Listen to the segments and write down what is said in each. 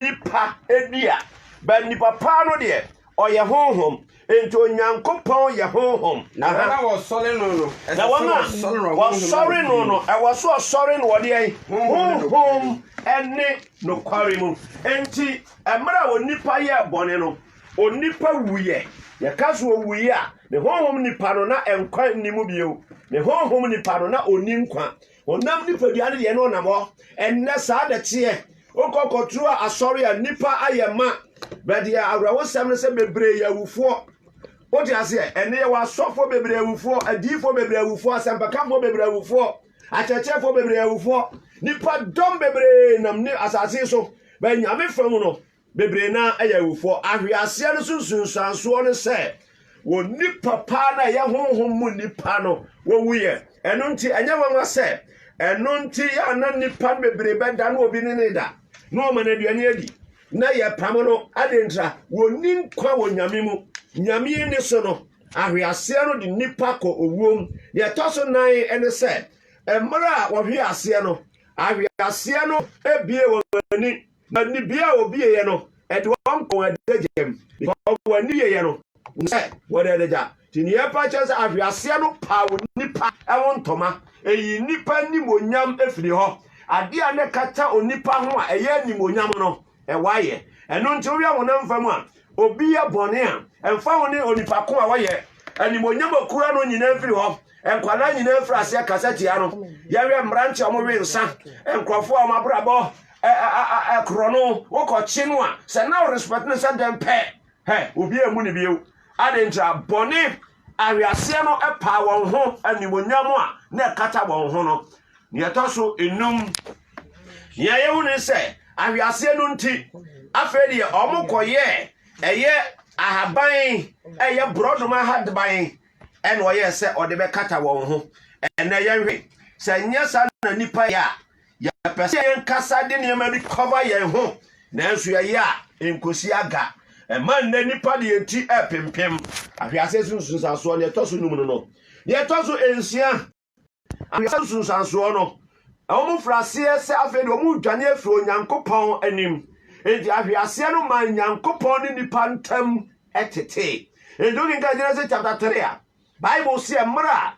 nipa di a, but nipa paa no deɛ, ɔyɛ honhom. Enti Onyankopɔn yɛ honhom. Na wɔn a wɔsɔre no no, ɛsɛ sɛ wɔsɔre no no, ɛwɔ so ɔsɔre no wɔ deɛ? Honhom ne nokware mu. Enti mmerɛ a onipa yɛɛ bɔne no, onipa wuiɛ. Yɛka so ɔwuiɛ a, ne honhom nipa no na nkwa nni mu bio. Ne honhom nipa no na ɔnni nkwa. Honam nipadua no deɛ na ɔnam hɔ. Ɛnnɛ saa na ɛteɛ. Wokɔ kɔturu a asɔre a nnipa ayɛ ma. Bɛdeɛ awerɛhosɛm no sɛ bebree yɛ awufoɔ. Wote aseɛ? Ɛnne yɛwɔ asɔfoɔ bebree awufoɔ, adiyifoɔ bebree awufoɔ, asɛmpakafoɔ bebree awufoɔ, akyerɛkyerɛfoɔ bebree awufoɔ. Nipa dɔm bebree nam ne asase so. Bɛ nyame fam no. Bebree no ara yɛ awufoɔ. Ahweaseɛ no so nsunsuansoɔ ne sɛ wɔn nipa paa no a ɛyɛ honhom mu nipa no wɔwuiɛ. Ɛno nti ɛnyɛ nwanwa sɛ ɛno nti yɛ ana nipa no bebree bɛda no obi ne ne da na ɔma no aduane adi na yɛpam no adentra wɔnni nkwa wɔ nyame mu nyame ni so no ahweaseɛ no de nipa kɔ owuom deɛ ɛtɔ so nan ne sɛ mmerɛ a wɔhwe aseɛ no ahweaseɛ no bie wɔn ani Na nibea a obi yeyɛ no, ɛde wɔn kɔ wɔn adagya mu, because wɔn ani yeyɛ no, wɔnim sɛ wɔde adagya. Nti nea ɛpa kyerɛ sɛ ahweaseɛ no paw nnipa ho ntɔma, eyi nnipa animuonyam firi hɔ. Adeɛ a na ɛkata onipa ho a ɛyɛ animuonyam no, ɛwaeɛ. Ɛno nti wohwɛ honam fam a, obi yɛ bɔne a, ɛmfa ho ne onipa ko a wayɛ, animuonyam a okura no nyinaa firi hɔ. Nkwadaa nyinaa firi aseɛ kasa tia no. Yɛhwɛ mmeranteɛ a wɔwe nsa, nkurɔfoɔ a wɔn abrabɔ korɔ no wo kɔ kye no a sɛ na wo respect no sɛ dɛn pɛ hɛ obi a ɛmu ne bio adɛn nti a bɔne aweaseɛ no paa wɔn ho animonyam a na ɛkata wɔn ho no ne ɛtɔ so enum nea yɛhu ne sɛ aweaseɛ no nti afei deɛ wɔn kɔyɛ ɛyɛ ahaban ɛyɛ borɔdoma ahaban ɛna ɔyɛ sɛ ɔde bɛkata wɔn ho ɛnɛ yɛnhwɛ sɛ nyɛ saa na nipa yɛ a Yɛpɛ sɛ yɛn kasa de nneɛma bi cover yɛn ho, nanso yɛyɛ a, enkosi aga. Ɛma nnɛ nnipa de yɛn ti repempem. Ahwease so nsunsuansoɔ, nea ɛtɔ so num no no. Nea ɛtɔ so nsia, ahwease nsunsuansoɔ no, wɔn fira aseɛ sɛ afei de wɔn redwane afiri Onyankopɔn anim. Enti ahweaseɛ no maa Nyankopɔn ne nnipa ntam tetee. Enti wokenkan Genesis chapter 3 a, Bible seɛ mmerɛ a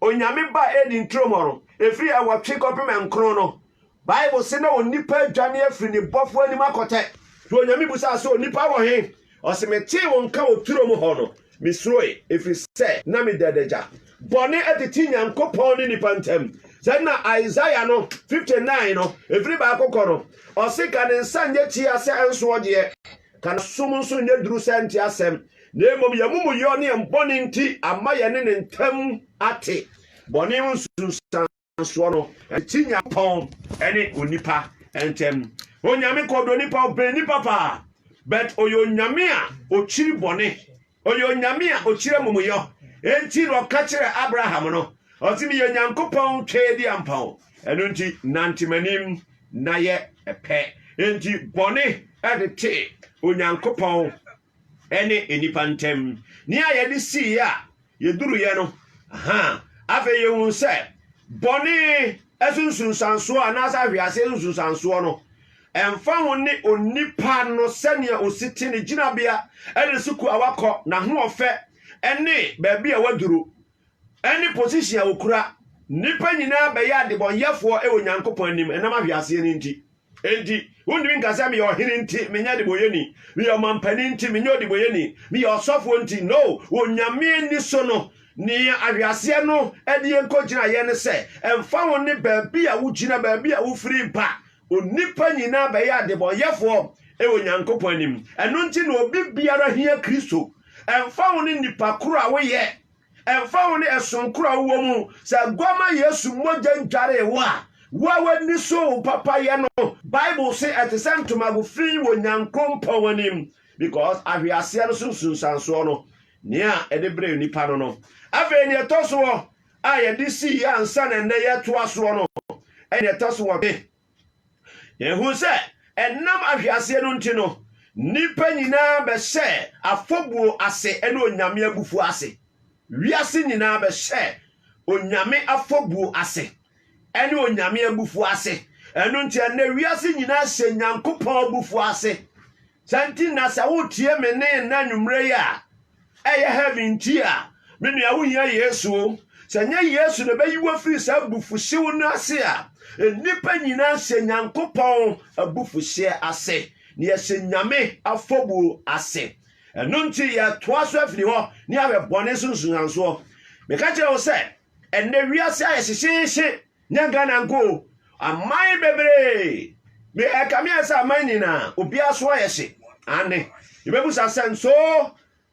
Onyame baa Eden turo mɔ no, ɛfiri ɛwɔtwe kɔpem nkron no, Bible se na onipa adwane afiri ne bɔfoɔ anim akɔtɛ. Nti Onyame busaa se, Onipa wɔ he? Ɔse, Metee wo nka wɔ turo mu hɔ no, me suroe, ɛfiri sɛ na me da adagya. Bɔne atete Nyankopɔn ne nipa ntam. Sɛ na Isaiah no 59 no, ɛfiri baako kɔ no, ɔse, Ka ne nsa nyɛ tia sɛ ɛnsoɔ deɛ. Ka no som nso nyɛ duru sɛ ɛnte asɛm, na mmom yɛn amumuyɔ ne yɛn bɔne nti ama yɛne ne ntam ate. Bɔne ho nsunsuansoɔ no, ɛte Nyankopɔn ne onipa ntam. Onyame kɔ do nipa, ɔbɛn nipa paa, but ɔyɛ Onyame a ɔkyiri bɔne. Ɔyɛ Onyame a okyir amumuyɔ, ntsi na ɔkã kyerɛɛ Abraham no, ɔse, Meyɛ Nyankopɔn Twɛdi Ampa o, ɛno ntsi nantse m'enyim na yɛ pɛ. Ntsi bɔne dze tse Onyankopɔn ne nyimpa ntamu. Nea yɛdze siiɛ a yeduruiɛ no, ha afei yehu sɛ bɔne so nsunsuansoɔ anaasɛ ahweaseɛ so nsunsuansoɔ no, Ɛmfa ho ne onipa no sɛnea osi te, ne gyinabea, ne sukuu a wakɔ, n'ahoɔfɛ, ne baabi a waduru, ne posihyin a okura, nnipa nyinaa bɛyɛ adebɔnyɛfoɔ wɔ Onyankopɔn anim ɛnam ahweaseɛ no nti. Enti, wontumi nka sɛ, Meyɛ ɔhene nti, menyɛ adebɔyɛni. Meyɛ ɔmampanin nti, menyɛ ɔdebɔyɛni. Meyɛ ɔsɔfoɔ nti. No, wɔ Nyame ani so no, nea ahweaseɛ no de yɛn kɔgyinaeɛ ne sɛ, ɛmfa ho ne baabi a wogyina, baabi a wofiri ba, Onipa nyinaa bɛyɛ adebɔnyɛfoɔ wɔ Onyankopɔn anim. Ɛno nti na obi biara hia Kristo. Ɛmfa ho ne nipa koro a woyɛ, ɛmfa ho ne ɛsom koro a wowɔ mu, sɛ Aguama Yesu mogya dwaree wo a, wo a w'ani so wo papayɛ no, Bible se ɛte sɛ ntomago fi wɔ Onyankopɔn anim. Because ahweaseɛ no so nsunsuansoɔ no, nea ɛde brɛ onipa no no. Afei nea ɛtɔ so a yɛde sii ansa na ɛnnɛ yɛtoa soɔ no na ɛtɔ so nwɔtwe. Yɛhunu sɛ ɛnam ahweaseɛ no nti no, nnipa nyinaa bɛhyɛɛ afɔbuo ase ne Onyame abufuo ase. Wiase nyinaa bɛhyɛɛ Onyame afɔbuo ase ne Onyame abufuo ase. Ɛno nti ɛnnɛ wiase nyinaa hyɛ Nyankopɔn abufuo ase. Saa nti na sɛ wotie me ne nna anwummerɛ yi a ɛyɛ heavy nti a, me nua wohia Yesu o. Sɛ nyɛ Yesu na ɛbɛyi wo afiri saa abufuhyew no ase a, nnipa nyinaa hyɛ Nyankopɔn abufuhyeɛ ase, na yɛhyɛ Nyame afɔbuo ase. Ɛno nti yɛtoa so afiri hɔ na yɛahwɛ bɔne so nsunsuansoɔ. Meka kyerɛ wo sɛ, ɛnnɛ wiase ayɛ hyehyeehye Nyɛ Ghana nko o, aman bebree. Me ɛkame a sɛ aman nyinaa obiara so ayɛ hye. Ane, yɛbɛbusa sɛ nso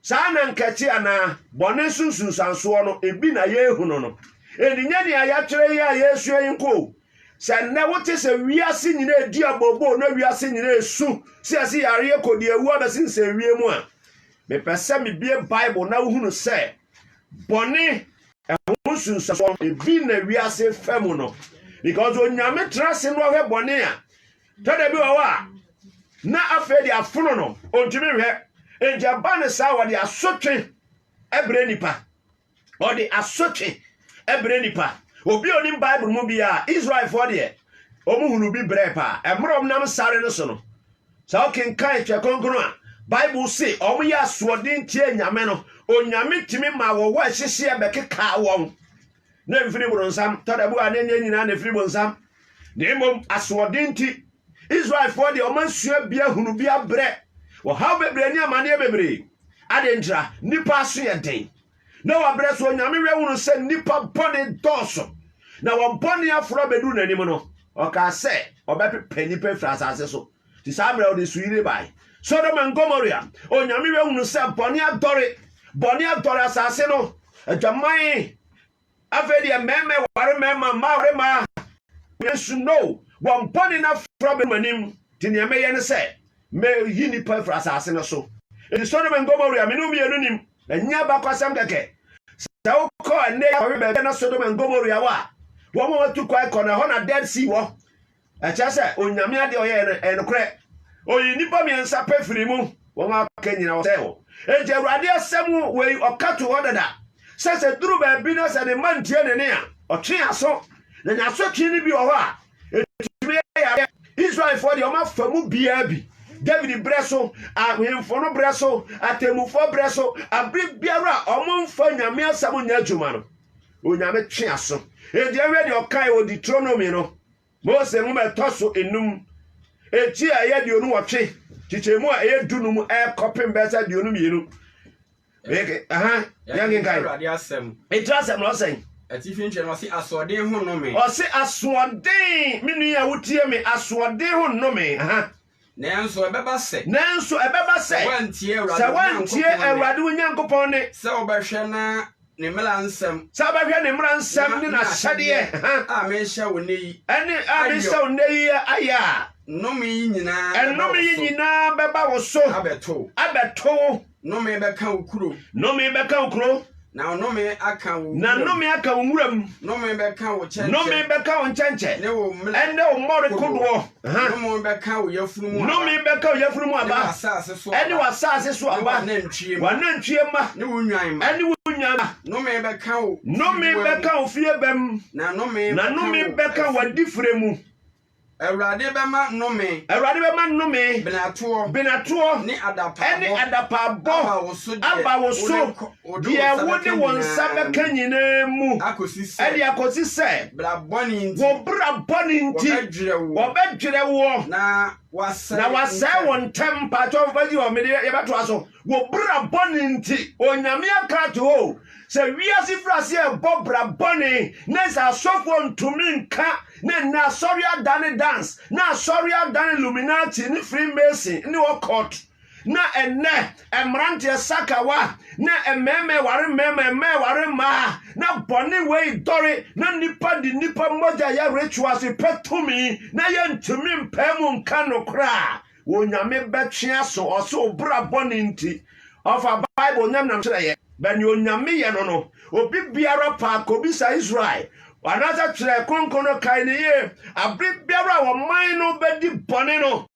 saa na nkɛte anaa bɔne so nsunsuansoɔ no ebi na yɛrehunu no. Ɛnni nyɛ nea yɛatwerɛ yi a yɛresua yi nko o. Sɛ nnɛ wote sɛ wiase nyinaa edi abooboo na wiase nyinaa esu sɛ yɛse yareɛ kɔdiawuo abɛsensɛn wiem a, mepɛ sɛ mebue Bible na wohunu sɛ bɔne, ɛho nsunsuansoɔ no, ebi na wiase fɛ mu no, because onyame tena ase no ɔhwɛ bɔne a, tɛda bi wɔ hɔ a, na afei de afono no, ɔntumi nhwɛ, nti ɛba ne saa wɔde asotwe ɛbrɛ nipa, ɔde asotwe ɛbrɛ nipa, obi a onim Bible mu biara, Israelfoɔ deɛ, wɔn hunu bi brɛ paa, ɛmmerɛ wɔn nam sare no so no, Sɛ wokenkan Twɛ Kronkron a, Bible se wɔyɛ asoɔden tiee Nyame no. Onyame tumi ma wɔwɔ ɛhyehyeɛ bɛkekaa wɔn. Na ɛmfiri bonsam. Tɔdabu a na ɛnyɛ nyinaa na ɛfiri bonsam. Na mmom asoɔden nti. Israelfoɔ deɛ wɔasua bi ahunu bi abrɛ. Ɔhaw bebree ne amaneɛ bebree. Adɛn ntira? Nnipa aso yɛ den. na wabrɛ so. Onyame werɛ hunu sɛ nnipa bɔne dɔɔso, na wɔn bɔne aforo abɛduru n'anim no, ɔkaa sɛ ɔbɛpepa nnipa afiri asase so. Nti saa mmerɛ ɔde nsuyiri bae. Sodom and Gomorrah, Onyame werɛ hunu sɛ bɔne adɔre, bɔne adɔre asase no, adwaman Afei deɛ mmarima ɛware mmarima, mmaa ɛware mmaa. Nanso no, wɔn bɔne no afra bɛnum anim. Nti nea mɛyɛ ne sɛ, mɛyi nnipa afiri asase no so. Enti Sodom and Gomorrah, me ne wo mmienu nim. Ɛnyɛ abakɔsɛm kɛkɛ. Sɛ wokɔ ɛnnɛ yi akɔhwɛ baabi a na Sodom and Gomorrah wɔ a, wɔn a wɔatu kwan kɔ no, ɛhɔ na Dead Sea wɔ. Ɛkyerɛ sɛ Onyame adeɛ ɔyɛɛ no ɛyɛ nokorɛ. Ɔyii nnipa mmiɛnsa pɛ firii mu, wɔn a aka nyinaa ɔsɛe wɔn. Enti Awurade asɛm wei ɔka too hɔ dada, sɛ sɛ duru baabi na sɛ ne mma ntie ne nne a, ɔtwe aso. Na n'asotwe no bi wɔ hɔ a, ɛtumi yɛ yareɛ. Israelfoɔ deɛ wɔafa mu biara bi. David berɛ so, ahemfo no berɛ so, atemmufoɔ berɛ so, abere biara a wɔmfa Nyame asɛm nyɛ adwuma no, Onyame twe aso. Enti ɛnhwɛ deɛ ɔkae wɔ Deuteronomy no, Mose nwoma a ɛtɔ so enum, eti a ɛyɛ aduonu wɔtwe, kyekyɛmu a ɛyɛ du num ɛkɔpem bɛyɛ sɛ aduonu mmienu. Yɛnkenkan. Awurade asɛm. Eti asɛm na ɔsɛn. Atifi nkyerɛ no ɔse asoɔden ho nnome. Ɔse asoɔden, me nua a wotie me, asoɔden ho nnome. Nanso ɛbɛba sɛ. Nanso ɛbɛba sɛ. Sɛ woantie Awurade wo Nyankopɔn nne. Sɛ wobɛhwɛ na ne mmara nsɛm. Sɛ wobɛhwɛ ne mmara nsɛm ne n'ahyɛdeɛ. A mehyɛ wo nnɛ yi. Ɛne a mehyɛ wo nnɛ yi ayɛ a. Nnome yi nyinaa bɛba wo so. Ɛnnome yi nyinaa bɛba wo so. Abɛto wo. Abɛto wo. Nnome bɛka wo kuro. Nnome bɛka wo kuro. Na nnome aka wo wuram. Na nnome aka wo wuram. Nnome bɛka wo kyɛnkyɛ. Nnome bɛka wo nkyɛnkyɛ. Ne wo mmere. Ɛne wo mmɔre kodoɔ. Nnome bɛka wo yafunu mu aba. Nnome bɛka wo yafunu mu aba. Ne w'asaase so aba. Ɛne w'asaase so aba. Ne w'anantwie mma. W'anantwie mma. Ne wo nnwan mma. Ɛne wo nnwan mma. Nnome bɛka wo fie bɛm. Nnome bɛka wo fie bɛm. Na nnome bɛka wo adifire mu. Awurade bɛma nnome. Awurade bɛma nnome. Benatoɔ. Benatoɔ. Ne adapaabɔ. Ɛne adapaabɔ. Aba wo so deɛ. Aba wo so. Deɛ wode wo nsa bɛka nyinaa mu. Akɔsi sɛ. Ɛde akɔsi sɛ. Bra bɔne nti. Wo bra bɔne nti. Wɔbɛdwerɛ woɔ. Wɔbɛdwerɛ woɔ. Na wasɛe. Na wasɛe wo ntɛm. Mpakyɛw fagyi hɔ mede yɛbɛtoa so. Wo bra bɔne nti. Onyame aka ato hɔ o sɛ wiase firi ase ɛbɔ bra bɔne ne sɛ asɔfoɔ ntumi nka ne nnɛ asɔre adane dance na asɔre adane luminati ne free mason ne occult na ɛnnɛ mmeranteɛ sakawa ne mmarima ɛware mmarima mmaa ɛware mmaa na bɔne wei dɔre na nnipa de nnipa mogya yɛ rituals pɛ tumi na yɛntumi mpaa mu nka no koraa Onyame bɛtwe aso ɔse wo bra bɔne nti ɔfa bible onyame nam kyerɛ yɛ bɛ ne onyame yɛ no no obi biara paa kɔbisa Israel anaasɛ twerɛ kronkron no kae ne yie abere biara a wɔman no bɛdi bɔne no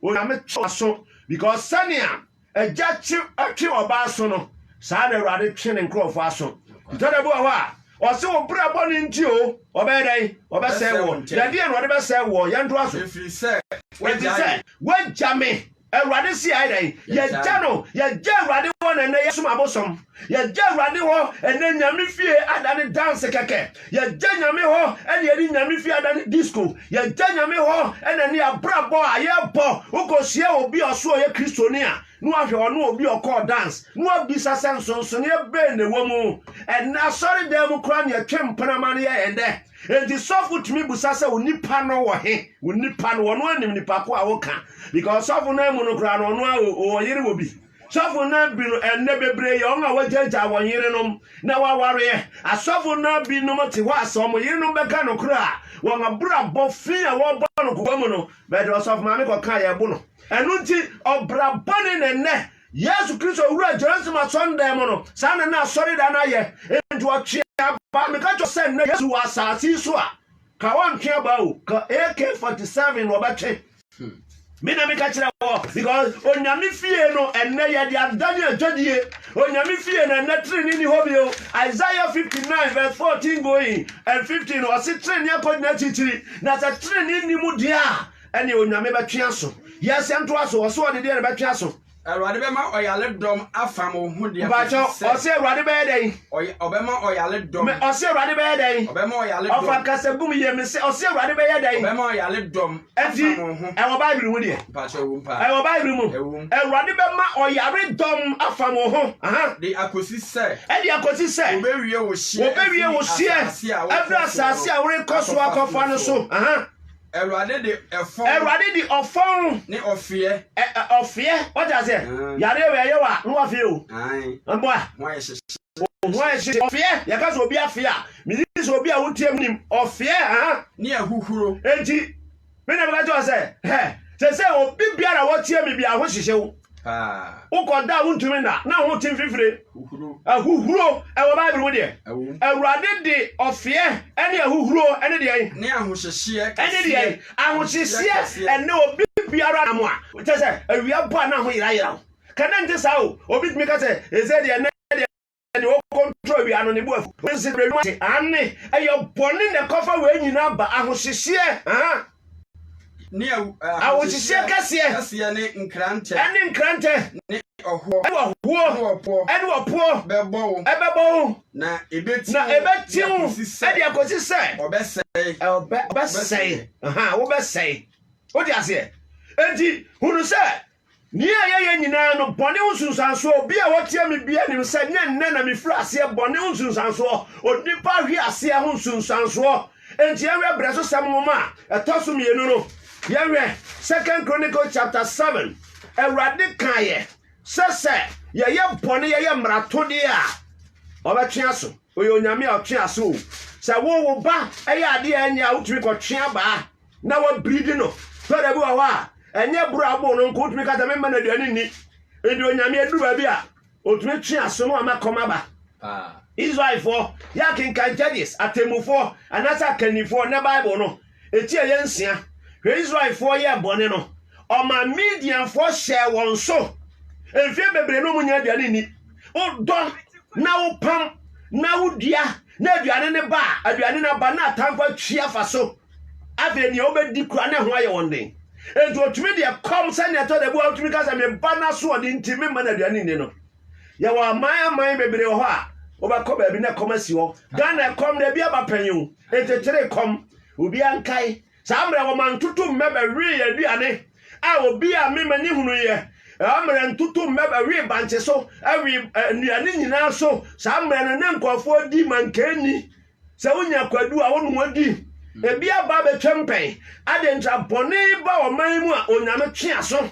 onyame twe aso because sɛnea Agya twe twe ɔba aso no, saa ara na Awurade twe ne nkurɔfoɔ aso. Ntɔ da bi wɔ hɔ a, ɔse wo brɛ bɔne nti o, ɔbɛyɛ dɛn? Ɔbɛsɛe woɔ. Yɛdeɛ na ɔde bɛsɛe woɔ? Yɛntoa so. Ɛfiri sɛ woagya me. Awurade se ayɛ dɛn? Yɛagya no. Yɛagya Awurade hɔ na ɛnnɛ yɛsom abosom. Yɛgya Awurade hɔ ɛnɛ nyame fie ada ne danse kɛkɛ. Yɛgya nyame hɔ ɛne yɛde nyame fie ada ne disco. Yɛgya nyame hɔ ɛna ne abrabɔ a yɛbɔ. Wokohyia obi a ɔso ɔyɛ Kristoni a, na wahwɛ ɔne obi a ɔkɔɔ dance, na wabisa sɛ nsonsoneɛ bɛn na ɛwɔ mu. Ɛnɛ asɔredan mu koraa na yɛtwe mpena ma no yɛ yɛn dɛ. Enti sɔfo tumi bisa sɛ wo nipa no wɔ he? Wo nipa no, ɔno ara nim nipa ko a woka. Because sɔfo no amu no koraa no, ɔno ara ɔyere wɔ bi. Sɔfo no bi no ɛnnɛ bebree yɛ wɔn a wɔagyaagyaa wɔn yerenom na wɔawareɛ. Asɔfo no binom te hɔ a sɛ wɔn yerenom bɛka nokorɛ a, wɔn abrabɔ fi a wɔbɔ no kɔkɔ mu no, bɛde ɔsɔfo maame kɔka a yɛbo no. Ɛno nti, ɔbra bɔne na ɛnnɛ Yesu Kristo wura Jerusalem asɔndan mu no, saa na na asɔredan no ayɛ. Enti wɔtwe abaa. Meka kyerɛ sɛ nnɛ Yesu wɔ asase yi so a, ka wɔntwe abaa o, ka AK-47 na wɔbɛtwe. me na meka kyerɛ wɔ because onyame fie no ɛnɛ yɛde adane adwadie onyame fie no ɛnɛ tenene ni hɔ bio isaiah 59 verse 14 going and 15 no ɔse tenene akɔgyina akyirikyiri na sɛ tenene nni mu deɛ a ɛne onyame bɛtwe aso yɛsɛ ntoa so ɔso ɔde deɛ no bɛtwe aso Awurade bɛma ɔyaredɔm afam wo ho deɛ Mpakyɛ ɔsɛ Awurade bɛyɛ dɛn? Ɔbɛma ɔyaredɔm. Me ɔsɛ Awurade bɛyɛ dɛn? Ɔbɛma ɔyaredɔm. Ɔfa nkasa gum yie me sɛ ɔsɛ Awurade bɛyɛ dɛn? Ɔbɛma ɔyaredɔm afam wo ho. Ɛwɔ Bible mu deɛ. Mpakyɛ ɛwɔ mpa. Ɛwɔ Bible mu. Ɛwɔ mu. Awurade bɛma ɔyaredɔm afam wo ho. De akɔsi sɛ. Ɛde akɔsi sɛ. Wɔbɛwie wo hyeɛ. Wɔbɛwie wo hyeɛ. Ɛfiri asase a worekɔ so akɔfa no so. Awurade de ɛfɔn. Awurade de ɔfɔn. Ne ɔfeɛ. Ɛ ɛ ɔfeɛ wata aseɛ. Mm. Yareɛ wɔ ɛyɛ wa no wa fie o. Mboa. Ho ayɛ hyɛ. Ho ayɛ hyɛ ɔfeɛ yɛka sɛ obi afeɛ a meyi sɛ obi a wotie mu nim ɔfeɛ aha. Ne ahuhuro. Enti me na meka kyerɛ sɛ hɛ sɛ sɛ obi biara wɔtie me bi ahohyehyew. wokɔ da a wontumi nna na ho te mfifire ahuhuro ɛwɔ bible mu deɛ awurade de ɔfeɛ ɛne ahuhuro ɛne deɛ ne ahohyehyeɛ ɛne deɛ ahohyehyeɛ ɛne obi biara nam a kyɛ sɛ awia bɔ a na ho yerayera wo kɛne nte saa o obi tumi ka sɛ ɛsɛ deɛ nɛ deɛ deɛ ɔkɔntoro awia no ne bo afu. Wode nse berɛ nnwuma ase. Aane, ɛyɛ bɔne na ɛkɔfa wei nyinaa ba, ahohyehyeɛ, aha, ne ahohyehyeɛ kɛseɛ, ne nkrantɛ, ne nkrantɛ, ne ɔhoɔ, ne ɔhoɔ, ne ɔpoɔ, ne ɔpoɔ, bɛbɔ wo, ɛbɛbɔ wo, na ɛbɛti na ɛbɛti wo, ɛde akɔsi sɛ, ɔbɛsɛe, ɔbɛsɛe, aha, wobɛsɛe, wode aseɛ, enti hunu sɛ, Nea yɛyɛ nyinaa no, bɔne ho nsunsuansoɔ, obi a ɔtia me biara nim sɛ nyɛ nnɛ na mefiri aseɛ bɔne ho nsunsuansoɔ, onipa ahwe aseɛ ho nsunsuansoɔ. Enti yɛnhwɛ brɛsosɛm nwoma a ɛtɔ so mmienu no. Yɛnhwɛ Second Chronicles chapter 7. Awurade kaeɛ sɛ sɛ yɛyɛ bɔne, yɛyɛ mmaratodeɛ a, ɔbɛtwe aso. Ɔyɛ onyame a ɔtwe aso o. Sɛ wo wo ba yɛ adeɛ a ɛnyɛ a, wotumi kɔtwe abaa. na wabiridi no sɛ da bi wɔ hɔ a ɛnyɛ boro a abo no nko wotumi kasa memma no aduane nni nti onyame aduru baabi a otumi twe aso no ama kɔm aba israelfoɔ yɛ akenkan judges atemmufoɔ anaasɛ akannifoɔ na bible no ɛti a yɛ nsia hwɛ israelfoɔ yɛ bɔne no ɔma medianfoɔ hyɛɛ wɔn so mfeɛ bebree no mu nya aduane nni wodɔ na wopam na wodua na aduane ne ba aduane no aba na atamfo atwi afa so Afei nea wobɛdi kura ne ho ayɛ wɔn den. Enti otumi deɛ kɔm sɛnea ɛtɔ da bi a wotumi ka sɛ me ba no asoɔden nti memma no aduane nni no. Yɛwɔ aman aman bebree wɔ hɔ a wobɛkɔ baabi na kɔm asi hɔ. Ghana kɔm da bi aba pɛn o, ntetere kɔm. Obi ankae saa mmerɛ wɔma ntutu mmɛ bɛwee aduane a obi a me m'ani hunuiɛ saa mmerɛ ntutu mmɛ bɛwee bankye so, ɛwee nnuane nyinaa so saa mmerɛ no ne nkurɔfoɔ di mankanni Sɛ wonya kwadu a, wo ne wɔn di. Ebi aba abɛtwam pɛn. Adɛn nti? Abɔne ba ɔman mu a, Onyame twe aso.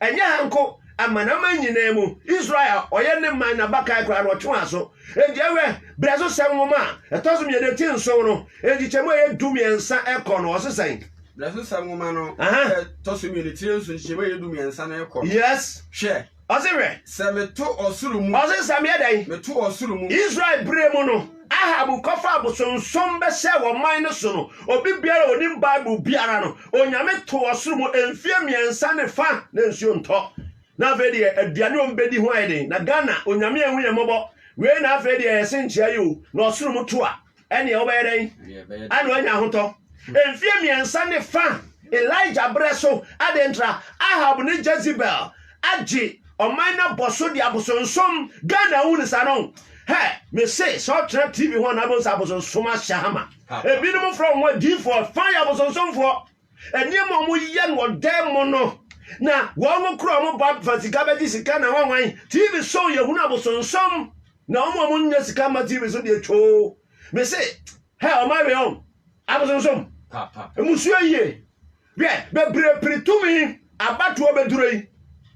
Ɛnyɛ ha nko, amanaman nyinaa mu. Israel a ɔyɛ ne man n'abakan koraa no, ɔtwe wɔn aso. Enti ɛwɛ, berɛ so sɛm nwoma a ɛtɔ so mmienu ti nson no, nkyekyɛmu a ɛyɛ du mmiɛnsa kɔ no, ɔse sɛn? Berɛ so sɛm nwoma no a ɛtɔ so mmienu ti nson nkyekyɛmu a ɛyɛ du mmiɛnsa no rekɔ no, hwɛ! Ɔse hwɛ. Sɛ meto ɔsoro mu. Ɔse sɛ meyɛ dɛn. Meto ɔsoro mu. Israel bere mu no, Ahab kɔfa abosonsom bɛhyɛɛ wɔ ɔman no so no, obi biara a onim Bible biara no, Onyame too ɔsoro mu mfeɛ mmiɛnsa ne fa na nsuo ntɔ. Na afei deɛ aduane a wɔbɛdi ho ayɛ den. Na Ghana, Onyame anhu yɛn mmɔbɔ. Wei na afei deɛ yɛse nkyea yi o, na ɔsoro mu to a. ɛneɛ wobɛyɛ dɛn ɛne wanya ahotɔ mfie mmiɛnsa ne fa elija berɛ so adɛn ntra ahab ne jezebel agye ɔman no abɔ so de abosonsom ghana awu ne saa no hɛ mese sɛ ɔtena tv ho anaa bɛhu sɛ abosonsom ahyɛ hama ebinom frɛ wɔn adiifoɔ fa yɛ abosonsomfoɔ Nneɛma a wɔyɛ no wɔ dan mu no, na wɔn kura wɔn ba fa sika bɛgye sika na wɔnwan. TV so yɛhunu abosonsom na wɔn a wɔnyɛ sika ma TV so deɛ twoo. Me se, hɛ wɔn awe wɔn abosonsom. Mmusua yie. Hwɛ, bebree pere tumi abatoɔ bɛduro yi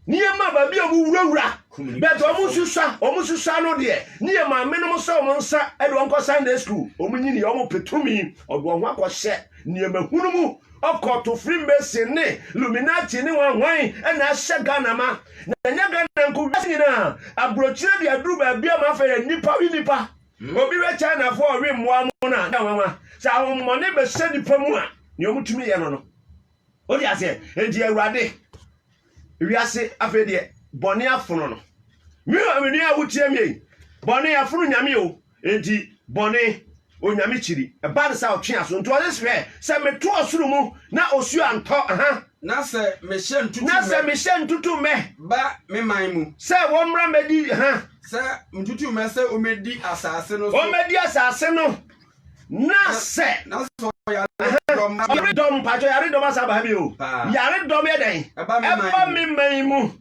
ne yɛma baabi a ɔmo wurawura bɛt ɔmo susua ɔmo susua no deɛ ne yɛ maame nom sɛ ɔmo nsa ɛde ɔmo kɔ sunday school ɔmo nyini ɔmo petumi ɔde ɔho akɔhyɛ nneɛma hunu mu ɔkɔto firi mbɛsi ne luminati ne wanwan ɛna ahyɛ ghana ma na ɛnyɛ ghana nko wiase nyinaa aburokyire de aduru baabi ama afɛ yɛ nipa wi nipa hmm. obi wɛ china fo ɔwe mmoa mo na ɛwanwa sɛ ahommɔne bɛhyɛ nipa mu a nea ɔmo tumi yɛ no no Wote aseɛ? Enti Awurade, wiase afei deɛ bɔne afono no. Me nua a wotie me yi, bɔne afono nyame o. Enti bɔne onyame kyiri. Ɛba no sɛ ɔtwe aso. Nti ɔse hwɛ sɛ meto ɔsoro mu na osuo antɔ. Aha. Na sɛ mehyɛ ntutu mɛ. Na sɛ mehyɛ ntutu mɛ. Ba me man mu. Sɛ wɔmmra mmɛdi ha. Sɛ ntutu mɛ sɛ wɔmmɛdi asase no so. Wɔmmɛdi asase no. Na sɛ ɔyaredɔm mpatsɔ yaredɔm asa aba ha bi o yaredɔm yɛ dɛn ɛba me man mu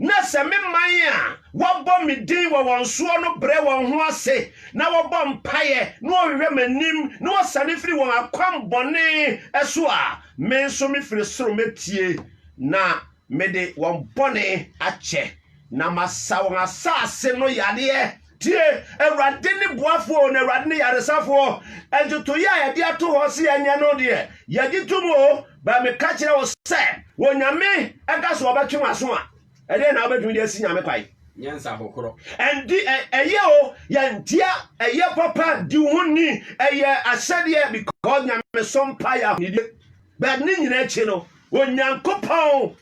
na sɛ me man a wɔbɔ me din wɔ wɔn soɔ no brɛ wɔn ho ase na wɔbɔ mpaeɛ na wɔhwehwɛ m'anim na wɔsane firi wɔn akwammɔne so a me nso mefiri soro mɛtie na Mede wɔn bɔne akyɛ. Na masa wɔn asase no yadeɛ. Tie, Awurade ne boafoɔ, na Awurade ne yaresafoɔ. Ntotoeɛ a yɛde ato hɔ sɛ yɛnyɛ no deɛ, yɛgye tom o. Ba meka kyerɛ wo sɛ, Onyame ka sɛ ɔbɛtwe w'aso a, ɛdeɛn na wobɛtumi de asi Nyame kwan? Nyɛ nsahokorɔ. Ɛnde ɛyɛ o, yɛntia, ɛyɛ papa, di wo ho ni, ɛyɛ ahyɛdeɛ, because Nyamesom mpaeɛ ahonidie. But ne nyina akyi no, Onyankopɔn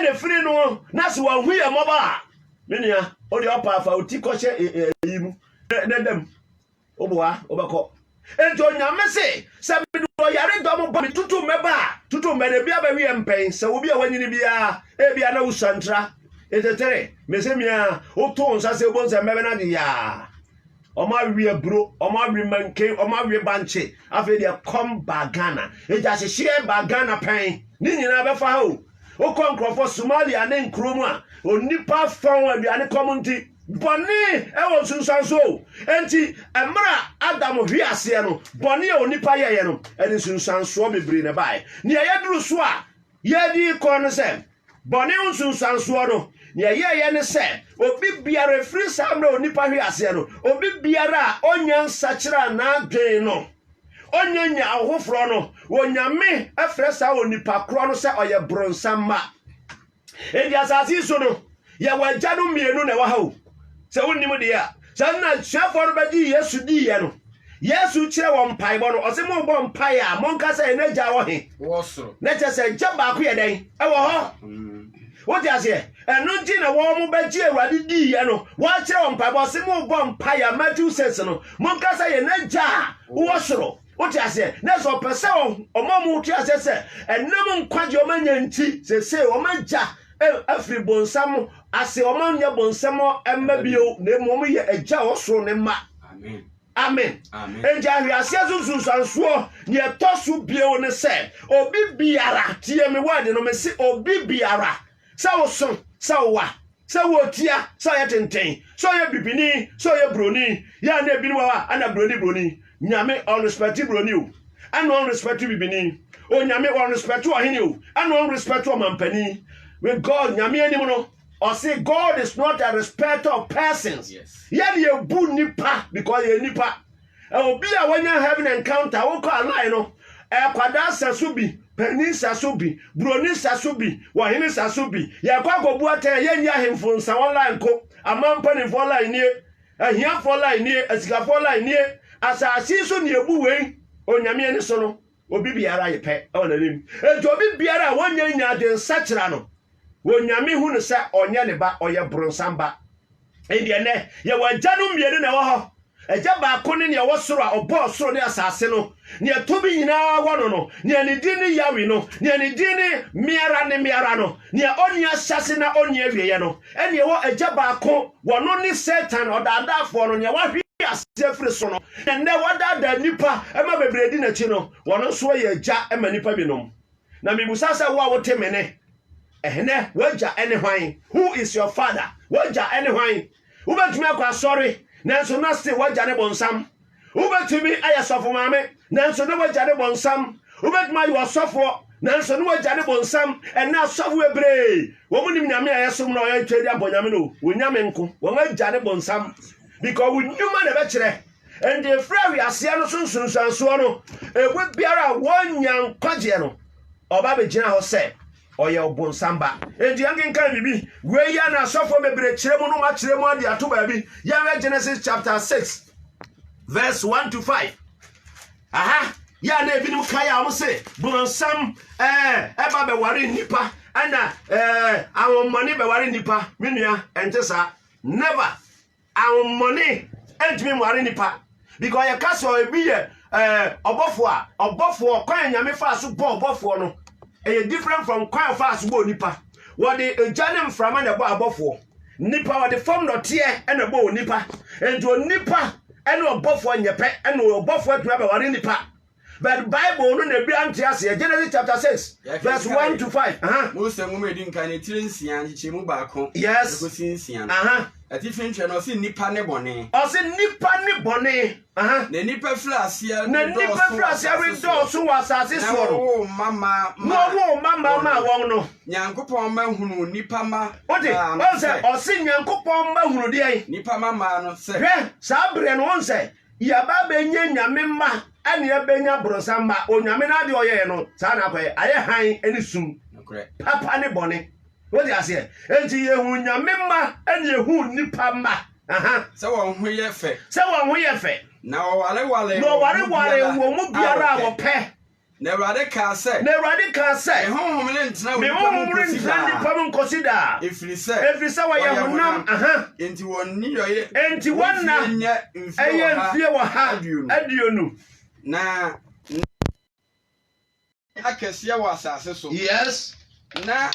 na firi no na so wahu yɛ mmɔbɔ a, me nua, o deɛ ɔpa afa oti kɔhyɛ ɛyi mu, na dam, woboa, wobɛkɔ. Enti onyame se, sɛ mede ɔyare dɔ mo ba me tutu mmɛba a, tutu mmɛ de bia bɛweɛ mpɛn, sɛ obi a wanyini biara, ebia na wosua ntra, etetere, mese mia, wotoo nsa sɛ wobom sɛ mmɛbɛ na de yaa. Wɔawe aburo, wɔawe manken, wɔawe bankye. Afei deɛ kɔm baa Ghana. Enti ahyehyeɛ baa Ghana pɛn. Ne nyinaa bɛfa ha o. Wokɔ nkurɔfoɔ Somalia ne nkuro mu a, onipa fɔn aduane kɔm nti. Bɔne wɔ nsunsuansoɔ o. Enti mmerɛ a Adam hwe aseɛ no, bɔne a onipa yɛeɛ no, ɛde nsunsuansoɔ bebree na ɛbaeɛ. Nea yɛduru so a, Yɛɛ dii kɔ ne sɛ, bɔne ho nsunsuansoɔ no, nea ɛyɛeɛ ne sɛ, obi biara, ɛfiri saa mmerɛ a onipa hwee aseɛ no, obi biara a ɔnnya nsakyeraa n'adwene no, ɔnnya nya ahofoforɔ no, Onyame frɛ saa onipa korɔ no sɛ ɔyɛ bronsam mma. Enti asase yi so no, Yɛwɔ agyanom mmienu na ɛwɔ ha o. Sɛ wonnim deɛ a, saa nna asuafoɔ no bɛgye Yesu diiɛ no, Yesu kyerɛ wɔn mpaebɔ no, ɔse mobɔ mpae a, monka sɛ, Yɛn agya wɔ he? Na kyerɛ sɛ agya baako yɛ dɛn? Ɛwɔ hɔ. Wote aseɛ? Ɛno nti na wɔn bɛgye Awurade diiɛ no, wɔakyerɛ wɔn mpaebɔ, ɔse mobɔ mpae a, Matthew 6 no, monka sɛ, Yɛn agya a wowɔ soro. Wote aseɛ? Na sɛ ɔpɛ sɛ ɔma mo te aseɛ sɛ ɛnam nkwagye ɔma nya nti sese ɔma gya afiri bonsam ase ɔma nyɛ bonsam mma bio na emu ɔmo yɛ agya ɔsoro ne mma. Amen. Amen. Enti ahweaseɛ so nsunsuansoɔ nea ɛtɔ so bio ne sɛ obi biara tie me word no mese obi biara Sɛ ɔso, sɛ ɔwa, sɛ ɔretia, sɛ ɔyɛ tenten, sɛ ɔyɛ bibini, sɛ ɔyɛ broni, yɛ a na ebinom wɔ hɔ a na broni broni. Nyame ɔnrespɛte broni o, ɛna ɔnrespɛte bibini. Onyame ɔnrespɛte ɔhene o, ɛna ɔnrespɛte ɔmampanin. With God, Nyame anim no, ɔse God is not a respecter of persons. Yes. Yɛde ebu nipa because yɛ nipa. Obi a wanya heaven encounter wokɔ aline no ɛkwadaa sa so bi panin sa so bi buroni sa so bi wɔhene sa so bi yɛkɔ akɔbu atɛn yɛnni ahemfo nsa wɔn line ko aman mpanimfoɔ line nie ahiafoɔ line nie asikafoɔ line nie asase so ne ebu wei onyame ani so no Obi biara ye pɛ wɔ n'anim. Enti obi biara a wonnye nnya adwensakyera no, Onyame hu no sɛ ɔnyɛ ne ba, ɔyɛ bronsam ba. Endeɛ nnɛ yɛwɔ agyanom mmienu na ɛwɔ hɔ, Agya baako ne nea ɔwɔ soro a ɔbɔɔ soro ne asaase no, nea tumi nyinaa wɔ no no, nea ne din ne Yahwe no, nea ne din ne Me ara ne Me ara no, nea onni ahyɛase na onni awieɛ no, Ɛnneɛ ɛwɔ agya baako, wɔno ne Satan ɔdaadaafoɔ no, nea wahwe aseɛ firi ne so no, na ɛnnɛ wadaadaa nnipa ma bebree di n'akyi no, ɔno nso yɛ agya ma nnipa binom. Na mebisa sɛ, wo a wote me nne ɛnnɛ, w'agya ne hwan? Who is your father? W'agya ne hwan? Wobɛtumi akɔ asɔre, nanso na still w'agya ne bonsam. Wobɛtumi ayɛ sɔfo maame, nanso ne wagya ne bɔnsam. Wobɛtumi ayɛ ɔsɔfoɔ, nanso ne wagya ne bɔnsam. Ɛnɛ asɔfo bebree, wɔn nim nyame a yɛsom na wɔyɛ twɛ de abɔ nyame no, wɔn nyame nko, wɔn agya ne bɔnsam. Because wɔn nnwuma na ɛbɛkyerɛ. Ɛnde efiri awiaseɛ no so nsunsuansoɔ no, ɛmu biara a wɔnya nkwagyeɛ no, ɔba bɛgyina hɔ sɛ. Ɔyɛ ɔbonsam ba. Enti yɛnkenkan biribi. Wei yɛ na asɔfoɔ bebree kyerɛ mu no ma kyerɛ mu ade ato baabi. Yɛnhwɛ Genesis chapter 6 verse 1 to 5. Aha, yɛ a na ebinom kae a wɔn se bonsam ɛɛ ɛba bɛware nnipa ɛna ɛɛ ahommɔne bɛware nnipa. Me nua, ɛnte saa. Never. Ahonhommɔne ntumi nware nnipa because yɛka sɛ ebi yɛ ɛɛ eh, ɔbɔfoɔ a ɔbɔfoɔ kwan a nyame faa so bɔ ɔbɔfoɔ no ɛyɛ different from kwan a ɔfaa so bɔ onipa wɔde egya ne mframa na ɛbɔ abɔfoɔ nipa wɔde fam dɔteɛ na ɛbɔ onipa nti onipa ɛne ɔbɔfoɔ nyɛ pɛ ɛna ɔbɔfoɔ atumi abɛware nipa But Bible no na ebi ante aseɛ. Genesis chapter six verse one to five. Mose nwoma edi nkan ne tiri nsia nkyekyɛmu baako. Yes. Ekosi nsia no. Atifi ntwɛ no ɔsi nipa ne bɔne. Ɔsi nipa ne bɔne. Na nipa firi aseɛ. Na nipa firi aseɛ bi dɔɔso wɔ asase soɔ no. Na wɔwɔ mmammaa ma. Na wɔwɔ mmammaa ma wɔn no. Nyankopɔn ma hunu nipa ma. O de wɔn sɛ ɔsi Nyankopɔn ma hunu deɛ. Nipa ma maa no sɛ. Hwɛ saa berɛ no wɔn sɛ Yɛaba abɛnyɛ Nyame mma ɛne yɛbɛnya bronsam mma. Onyame no adeɛ ɔyɛɛ no saa na akɔyɛ. Ayɛ hann ne sum, papa ne bɔne. Wote aseɛ? Enti yɛhu Nyame mma ɛne yɛhu nnipa mma. Aha. Sɛ wɔn ho yɛ fɛ. Sɛ wɔn ho yɛ fɛ. Na wɔwareware wɔn mu biara a wɔpɛ. Na Awurade kaa sɛ. Na Awurade kaa sɛ. Me honhom rentena onipa mu nkosi daa. Me honhom rentena onipa mu nkosi daa. Efiri sɛ. Efiri sɛ wɔyɛ honam. Aha. Enti wɔn nneyɔeɛ. Enti wɔn nna. Wɔn mfie nyɛ. Ɛyɛ mfie wɔ ha. Aduonu. Aduonu. Na. Akɛseɛ wɔ asase so. Yes. Na.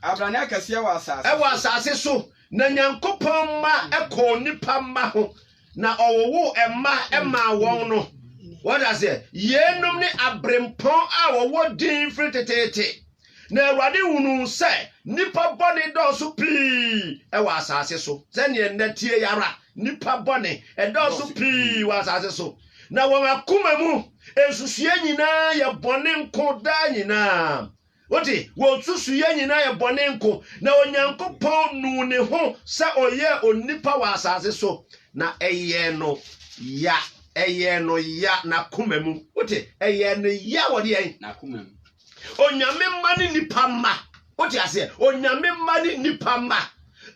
Abrane akɛseɛ wɔ asase so. Ɛwɔ asase so. Na Nyankopɔn mma ɛkɔɔ nipa mma ho. na ɔwowoo mma maa wɔn no. Wɔde aseɛ, yeinom ne aberempɔn a wɔwɔ din firi teteete. Na Awurade hunuu sɛ nnipa bɔne dɔɔso pii wɔ asase so, sɛdeɛ nnɛ teɛ yi ara, nnipa bɔne ɛdɔɔso pii wɔ asase so, na wɔn akoma mu nsusuiɛ nyinaa yɛ bɔne nko daa nyinaa. Wo de, wo nsusuiɛ nyinaa yɛ bɔne nko, na Onyankopɔn nuu ne ho sɛ ɔyɛɛ onipa wɔ asase so, na ɛyɛɛ no ya, ɛyɛɛ no ya, n'akoma mu. Wo te? Ɛyɛɛ no ya wɔ deɛn? N'akoma mu. Onyame mma ne nipa mma. Wo te aseɛ? Onyame mma ne nipa mma.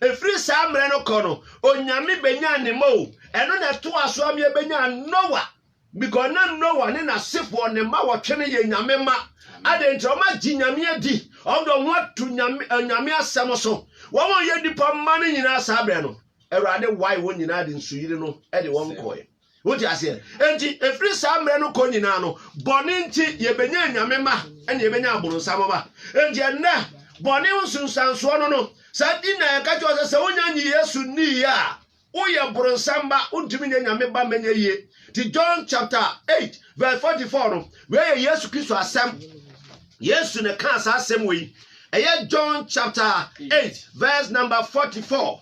Ɛfiri saa mmerɛ no kɔ no, Onyame bɛnyaa ne mma o. Ɛno na ɛtoa so ama yɛbɛnyaa Noa, Because na Noah ne n'asefoɔ ne mma wɔtwe no yɛ Nyame mma. Adɛn nti? Wɔn agye Nyame adi. Wɔn de wɔn ho ato Nyame, eh, Nyame asɛm so. Wɔn a yɛ nipa mma no nyinaa saa berɛ no, Awurade wae wɔn nyinaa de nsuyiri no de wɔn kɔɛ. Wote aseɛ? Enti, ɛfiri saa mmerɛ no kɔ nyinaa no, bɔne nti yɛbɛnya Nyame mma, ɛna yɛbɛnya abononsam mma. Enti ɛnnɛ, bɔne ho nsunsuansoɔ no no, saa nti na yɛka kyerɛ sɛ sɛ wonya nye Yesu nniiɛ a, Woyɛ bronsam ba, wontumi nyɛ Nyame ba mma ɛnyɛ yie. Nti John chapter eight verse forty four no, wei yɛ Yesu Kristo asɛm. Yesu na ɛkaa saa asɛm wei. Ɛyɛ John chapter eight verse number forty four.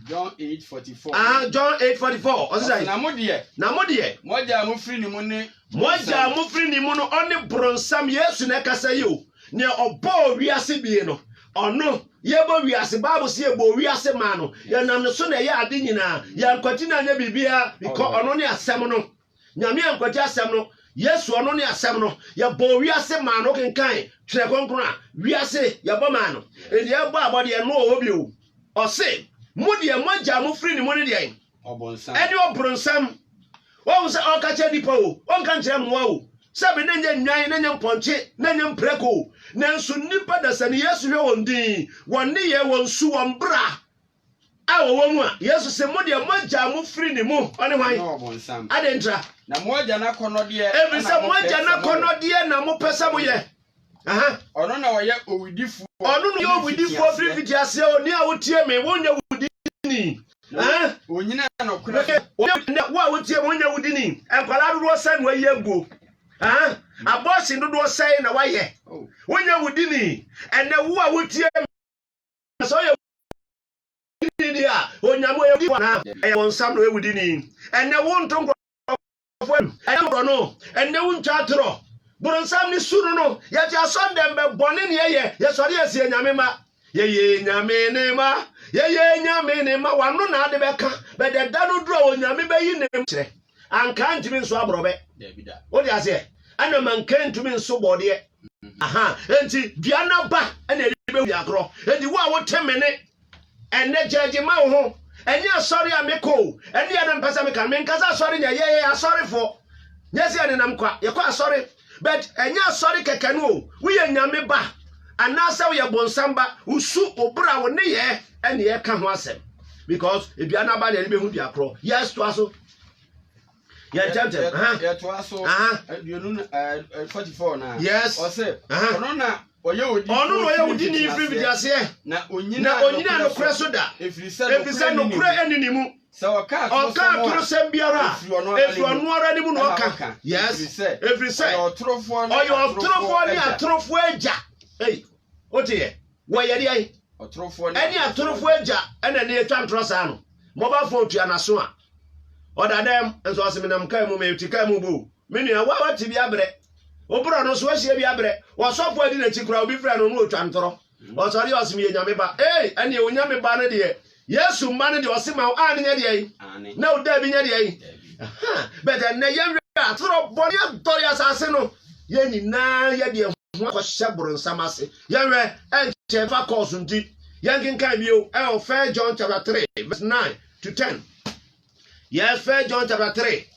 John eight forty four. Ah, John eight forty four. Ɔsɛ sɛ. Na mo deɛ. Na mo deɛ. Mo agya a mo firi ne mu ne. Mo agya a mo firi ne mu no, ɔne bronsam. Yesu na ɛkasa yi o. Nea ɔbɔɔ wiase bie no. Ɔno, Yɛbɔ wiase, Bible se Yɛbɔɔ wiase maa no, Yɛnam ne so na ɛyɛɛ ade nyinaa, Yɛankwati no anyɛ biribiara, bikɔ Ɔno ne Asɛm no, Nyame ankwati Asɛm no, Yesu, Ɔno ne Asɛm no, Yɛbɔɔ wiase maa no, wokenkan Twerɛ Kronkron a, wiase, Yɛbɔ maa no, Enti Yɛbɔɔ abɔdeɛ, ɛno wɔ hɔ bio, Ɔse, Mo deɛ, mo agya a mofiri ne mu no deɛn? Ɔbonsam. Ɛne ɔbronsam. Wahu sɛ ɔka kyerɛ nnipa o, ɔnka nkyerɛ mmoa o, sɛ me ne nyɛ nnwan ne nyɛ mpɔnkye ne nyɛ mprako. Nanso nnipa da sani Yesu hwɛ wɔn din, wɔn nneyɛɛ, wɔn su, wɔn bra a wɔwɔ mu a, Yesu se, mo deɛ mo agya mo firi ne mu, ɔne hwan? Ɛne ɔbonsam. Adɛn ntira? Na mo agya n'akɔnɔdeɛ na mopɛ sɛ moyɛ. Ɛfiri sɛ mo agya n'akɔnɔdeɛ na mopɛ sɛ moyɛ. Ɔno na ɔyɛ owudifoɔ. Ɔno na ɔyɛ owudifoɔ firi mfitiaseɛ. Ɔne a wotie me, wonyɛ wudini. Onyina nɔkorɛ so. Onyɛ wo a wotie me, wonyɛ wudini. Nkwadaa dodoɔ sɛn na wayi aguo? Abɔɔsen dodoɔ sɛn na wayɛ? Wonyɛ wudini. Ɛnɛ wo a wotie me, sɛ ɔyɛ wudini deɛ a, onyame ɔyɛ wudini anaa? Ɛyɛ wɔn nsam na ɔyɛ wudini. Ɛnɛ wo nto nkorɔ nkurɔfoɔ mu ɛyɛ borɔno ɛnɛ wo ntwa atorɔ boronsam ne su no no yɛte asɔre dɛm bɛ bɔne ne yɛyɛ yɛsɔre yɛsi yɛ nyame ma yɛyɛ nyame ne ma yɛyɛ nyame ne ma wano na ade bɛka bɛdɛ da no duru a onyame bɛyi ne kyerɛ anka ntumi nso aborɔbɛ wode aseɛ ɛna manka ntumi nso bɔdeɛ aha enti dua naba ɛna ɛde bɛwia korɔ enti wo a wote mene Ɛnnɛ gyaa gye ma wo ho. Ɛnyɛ asɔre a mekɔ o. Ɛne yɛ na mepɛ sɛ meka no. Menka sɛ asɔre nyɛ. Yɛyɛ asɔrefoɔ. Nyɛ sɛ yɛnenam kwa. Yɛkɔ asɔre. But ɛnyɛ asɔre kɛkɛ no o. Woyɛ Nyame ba anaasɛ woyɛ bonsam ba, wo su, wo bra, wo nneyɛɛ ɛne yɛka ho asɛm. Because dua no aba na yɛde bɛhu dua korɔ. Yes, toa so. Yɛ ntɛmtɛm. Aha. Yɛtoa so. Aha. Aduonu na ɛɛ forty four na. Yes. Ɔsɛ. Aha. Ɔno na Ɔno na ɔyɛ wudini firi mfitiaseɛ, na ɔnyina nokorɛ so da, ɛfiri sɛ nokorɛ ɛni ne mu. Ɔka atorosɛm biara a, ɛfiri ɔno ara ne mu na ɔka. Yes, ɛfiri sɛ ɔyɛ ɔtorofoɔ ne atorofoɔ agya. Ei, woteɛ, wɔyɛ deɛ ɛne atorofoɔ agya ɛna ne ɛtwa ntorɔ saa no, mobile phone tua n'aso a. Ɔda dɛm, nso ɔse menam kaa mu, mete kaa mu boo. Me nua, wo a wate bi abrɛ, wo borɔ no so ahyia bi abrɛ, w'ɔsɔfo a adi n'akyi koraa obi frɛ no na ɔtwa ntorɔ. Ɔsɔre a ɔse meyɛ Nyame ba, ei, ɛneɛ wo Nyame ba no deɛ, Yesu mma no deɛ ɔse ma wo aane nyɛ deɛn? Na wo daabi nyɛ deɛn? Ahaa, but ɛnnɛ yɛn werɛ atoro, bɔne adɔre asase no, yɛn nyinaa yɛ deɛ ho. ho akɔhyɛ boronsam ase. Yɛnhwɛ, ɛnkyɛ ɛbɛfa kɔɔso nti. Yɛnkenkan bio ɛwɔ First John chapter three verse nine to ten. Yes, First John chapter three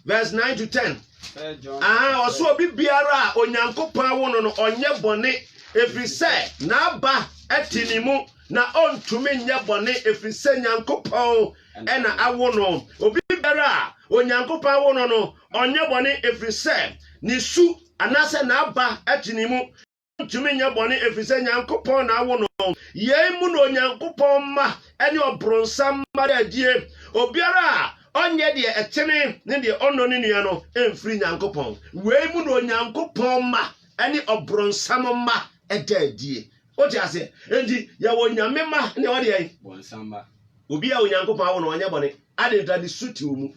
verse nine to ten. Aha ɔso obi biara a Onyankopɔn awo no no ɔnyɛ bɔne, efiri sɛ n'aba ɛte ne mu, na ɔntumi nyɛ bɔne efiri sɛ Nyankopɔn ɛna awo no. Obi biara a Onyankopɔn awo no no ɔnyɛ bɔne efiri sɛ ne su anaasɛ n'aba te ne mu. Ɔrentumi nyɛ bɔne efisɛ Nyankopɔn na awo no. Yei mu na Onyankopɔn mma ne ɔbronsam mma da adie. Obiara a ɔnyɛ deɛ ɛtene ne deɛ ɔnnɔ ne nua no mfiri Nyankopɔn. Wei mu na Onyankopɔn mma ne ɔbronsam mma da adie. Wote aseɛ? Enti yɛwɔ Nyame mma ne yɛwɔ deɛn? Bonsam mma. Obi a Onyankopɔn awo no ɔnyɛ bɔne. Adɛn nti? Na ne su te wo mu.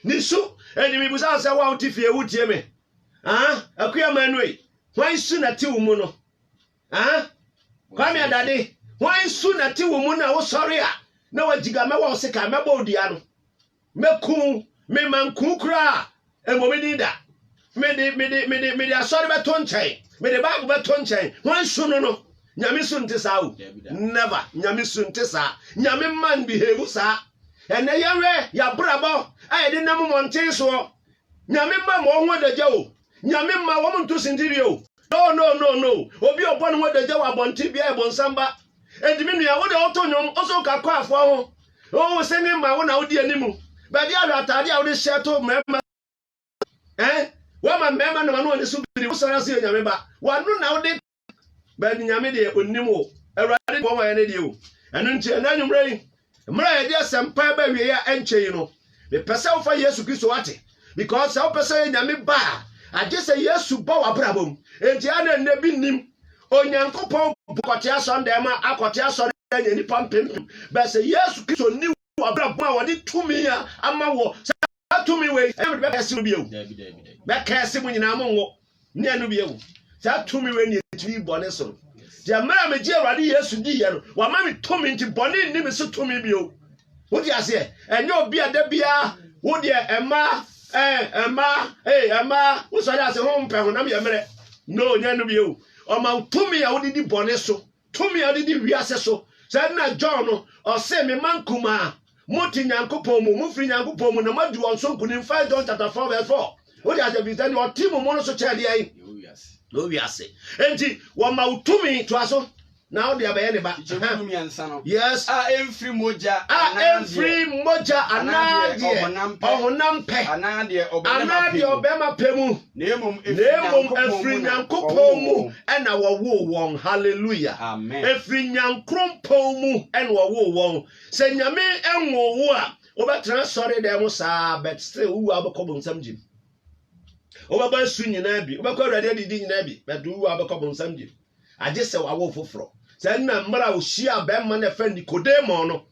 Ne su. Enti mebisa wo sɛ wo a wote fie wotie me. Ah, Akua Manuei, hwan nsu na te wo mu no? Ah, Kwame Adade, hwan nsu na te wo mu na wosɔre a na wagyiga mɛwɔ wo sekan, mɛbɔ wo dua no, mɛku wo, me manku koraa ɛmmɔ me din da. Mede, mede, mede, mede asɔre bɛto nkyɛn, mede Bible bɛto nkyɛn, hwan nsu no no? Nyame su nte saa o, never, Nyame su nte saa, Nyame mma nbehave saa. Ɛnɛ yɛnwɛ yɛabrabɔ a yɛde nam mmɔnten soɔ, Nyame mma ma ɔho adagya o, Nyame mma wɔn nto sintidua o, Noo noo noo noo, Obi a ɔbɔ ne ho adagya wɔ abɔnten bia yɛ bɔnsam ba, Enti me nua wo deɛ woto nnwom wo so woka kwaafoɔ ho, Wo wo singing ma wo na wodi anim, Baabi a hwɛ ataadeɛ a wode hyɛ to mmarima so eh, Woama mmarima nam ano ani so biri, Wo sɔre ase yɛ Nyame ba, W'ano na wode baabi nyame deɛ ɔnim o awurade ne wɔma yɛ ne deɛ o ɛno nti ɛna anwummerɛ yi mmerɛ a yɛde asɛmpa ɛba awieɛ a ɛnkyɛ yi no mepɛ sɛ wofa yesu kristo ate because sɛ wopɛ sɛ yɛ nyame ba a agye sɛ yesu ba w'abrabɔ mu enti a na nnɛ bi nim onyankopɔn bɔkɔte asɔndɛn ma akɔte asɔre anya nnipa mpempem bɛsɛ yesu kristo ni wɔ abrabɔ a wɔde tumi a ama wɔ sɛ saa tumi wei ɛna mede bɛkɛse mo bio bɛkɛse mo nyinaa mo nwo ne ɛno bio saa tumi wei ne ɛtumi bɔne so no deɛ mmerɛ a megye awurade yesu diiɛ no wama me tumi nti bɔne nni me so tumi bio wode aseɛ ɛnyɛ obi a da biara wodeɛ ɛma ɛma ɛma wosɔre ase ho mpɛ honam yɛ mmerɛ no nyɛ no bio ɔma wo tumi a wode di bɔne so Tumi a ɔde di wiase so. Saa nna John no, ɔsee, Me mma nkumaa, mote Nyankopɔn mu, mofiri Nyankopɔn mu, na moadi wɔn so nkunim, First John chapter 4 verse 4. Wode aseɛ firi sɛ deɛ ɔte mo mu no so kyɛɛ deɛn? Yɛ wiase. Enti, wɔma wo tumi, toa so, na wode abɛyɛ ne ba. Kyekyɛmu no mmiɛnsa no. Yes. A ɛmfiri mogya A ɛmfiri mogya anaa deɛ ɔhonam pɛ anaa deɛ ɔbarima pɛ mu. na mmom ɛfiri nyankopɔn mu ɛna wɔwoo wɔn hallelujah ɛfiri nyankrompɔn mu ɛna wɔwoo wɔn sɛ nyame ɛnwoo wo a wobɛtena sɔre dɛ mo saa but still wowu a wobɛkɔ bonsam gyim wobɛbɔ asu nyinaa bi wobɛkɔ awurade adidi nyinaa bi but wowu a wobɛkɔ bonsam gyim agye sɛ wawo foforɔ sɛ nna mmerɛ a ɔhyia bɛrima no ɛfɛ nikodemo no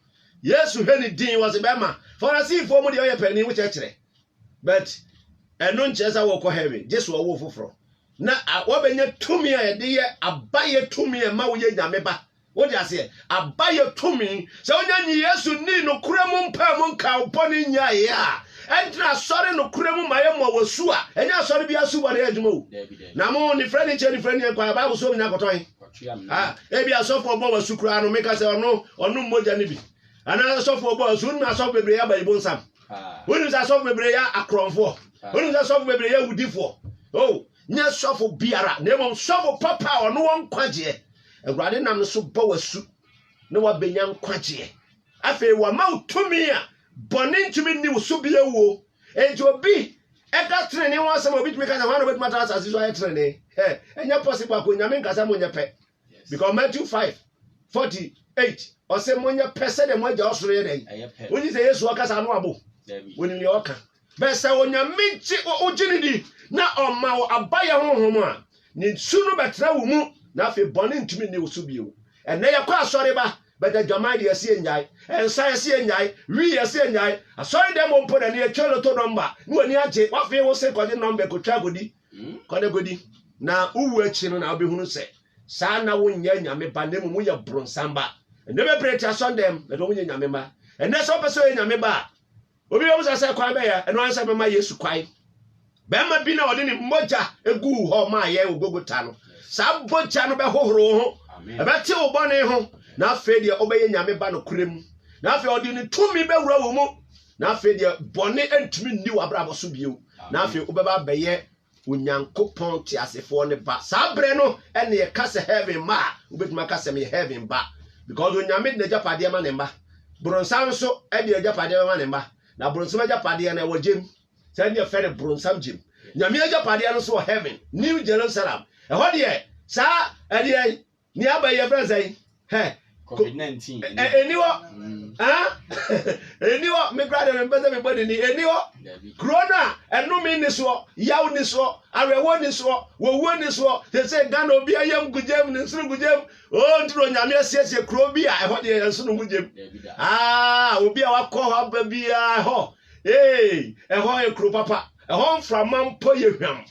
yesu hwɛ ne din wɔ se bɛrima farisifoɔ mu deɛ ɔyɛ panin wo kyɛkyerɛ But ɛno nkyerɛ sɛ wɔkɔ heaven gye sɛ ɔwo foforɔ na wabɛnya tumi a yɛde yɛ abayɛ tumi a ɛma woyɛ nyame ba wode aseɛ abayɛ tumi sɛ wonya nye yesu ni nokorɛ mu mpaa mu nka wobɔne nyaeɛ a ɛntena asɔre nokorɛ mu ma yɛmmɔ wɔ su a ɛnyɛ asɔre bi asu bɔne adwuma o na mo nifrɛ ne nkyɛ nifrɛ neɛ kwa bible so nya kɔtɔn ah, ebi asɔfoɔ bɔ wasu koraa no meka sɛ ɔno ɔno mmogya no bi anaa asɔfoɔ bɔ wasu wonum asɔfo bebree aba yi bonsam wonim sɛ asɔfo bebree yɛ akorɔmfoɔ wonim sɛ sɔfo bebree yɛ awudifoɔ o oh, nyɛ sɔfo biara na mmom sɔfo papa a ɔno wɔ nkwagyeɛ awurade nam no so bɔ w'asu na wabɛnya nkwagyeɛ afei wama wo tumi a bɔne ntumi nni wo so bia wuo enti obi ɛda tenene ho asɛm a obitumi ka sɛ hɔ na obɛtumi atra asase so ayɛ tenene ɛnyɛ possible akɔ nyame nkasa mo nyɛ pɛ because matthew five forty eight ɔsɛ mo nyɛ pɛ sɛdeɛ mo agya ɔsoro yɛ dɛn wonyi sɛ yesu ɔkasa ano abo wonim deɛ ɔka bɛ sɛ onyame gye wogye ne di na ɔma wo abayɛ honhom a ne su no bɛtena wo mu na afei bɔne ntumi nni wo so bio ɛnɛ yɛkɔ asɔre ba bɛda dwaman deɛ ɛsɛ yɛnyae ɛnsa ɛsɛ yɛnyae wi ɛsɛ yɛnyae asɔre dɛm mpo na ne yɛtwa loto nɔmba na w'ani agye wafei wo se kɔgye nɔmba kɔtwa akɔdi Hmm? Kɔ na kɔdi. Na wowu akyi no na wobɛhunu sɛ saa na wonyɛ nyame ba na mmom woyɛ boronsam ba. Ɛnɛ bebree te asɔndɛm na ɛdɛ wonyɛ nyame ma. Ɛnɛ sɛ wopɛ sɛ ɔyɛ nyame ba a, obi bɛmu sa sɛ kwan bɛyɛ ɛno ansa bɛma Yesu kwan. Bɛrima bi na ɔde ne mogya eguu hɔ maa yɛn wɔ Gogota no. Saa bogya no bɛhohoro wo ho, ɛbɛte wo bɔne ho, na afei deɛ wobɛyɛ nyame ba nokorɛ mu. Na afei ɔde ne tumi bɛwura wo mu. na afei deɛ bɔne ntumi nni w'abrabɔ so bio na afei wobɛba abɛyɛ onyankopɔn teasefoɔ ne ba saa berɛ no ɛne yɛka sɛ heaven ma a wobɛtumi aka sɛ meyɛ heaven ba because onyame de n'agyapadeɛ ma ne mma boronsam nso de agyapadeɛ ma ne mma na boronsam agyapadeɛ no ɛwɔ gyem sɛ ne yɛfɛ no boronsam gyem nyame agyapadeɛ no nso wɔ heaven new jerusalem ɛhɔ deɛ saa ɛdeɛ Ni aba yi yɛfrɛ sɛn? Hɛ. Covid 19. Ɛni hɔ. Ɛni hɔ. Me kura de me mpɛ sɛ mebɔ ne ni. Ɛni hɔ. Kuro no a ɛnome ni soɔ, yaw ni soɔ, awerɛhoɔ ni soɔ, wɔwuo ni soɔ. Sese Ghana obi ayam gu gyam, ne nsono gu gyam. Oo nti na Onyame asiesie kuro bi a ɛhɔ deɛ ɛnsono gu gyam. Aa obi a wakɔ hɔ aba biara ɛhɔ. Ee ɛhɔ yɛ kuro papa. Ɛhɔ mframa mpo yɛ hwam.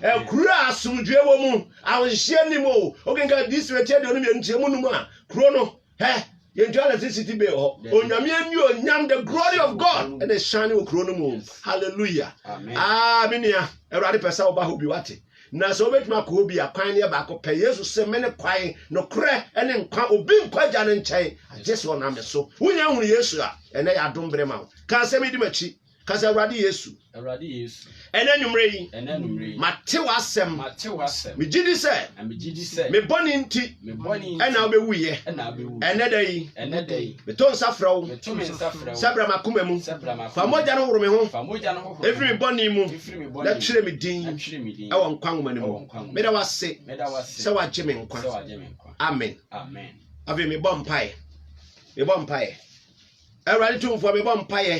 Ɛkuro a asomdwoeɛ wɔ mu, ahohyehyeɛ nim o. Wokenka DC bɛti aduonu mmienu nkyɛmu num a, kuro no, hɛ, yɛntua electricity bill hɔ. Onyame ani onyam, the glory of God, ɛna ɛhyane wɔ kuro no mu. Hallelujah. Ah, me nua, Awurade pɛ sɛ woba hɔ bi, wate? na sɛ wobɛtumi akɔ hɔ bi a kwan no yɛ baako pɛ yesu se me ne kwan nokorɛ ne nkwa obi nkɔ agya no nkyɛn agye sɛ ɔnam me so wonya hunu yesu a ɛnɛ yɛ adom berɛ ma wo ka asɛm yi di m'akyi ka sɛ awurade yesu ɛnɛ anwummerɛ yi mate w'asɛm megye di sɛ me bɔne nti ɛna wobɛwuiɛ ɛnɛ da yi meto nsa frɛ wo sɛ bra makoma mu fa mogya no woro me ho ɛfiri me bɔne mu na kyerɛ me din ɛwɔ nkwa nwoma no mu meda wase sɛ wagye me nkwa amen afei mebɔ mpae mebɔ mpae Awurade Tumfoɔ, mebɔ mpaeɛ,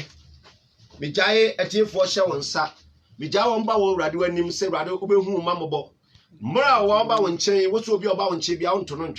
megyae atiefoɔ hyɛ wo nsa, megyae wɔn ba wɔ Awurade w'anim sɛ Awurade wobɛhu ma mmɔbɔ. Mmerɛ a wɔba wo nkyɛn, wo so obi a ɔba wo nkyɛn bia wonto no ntwene.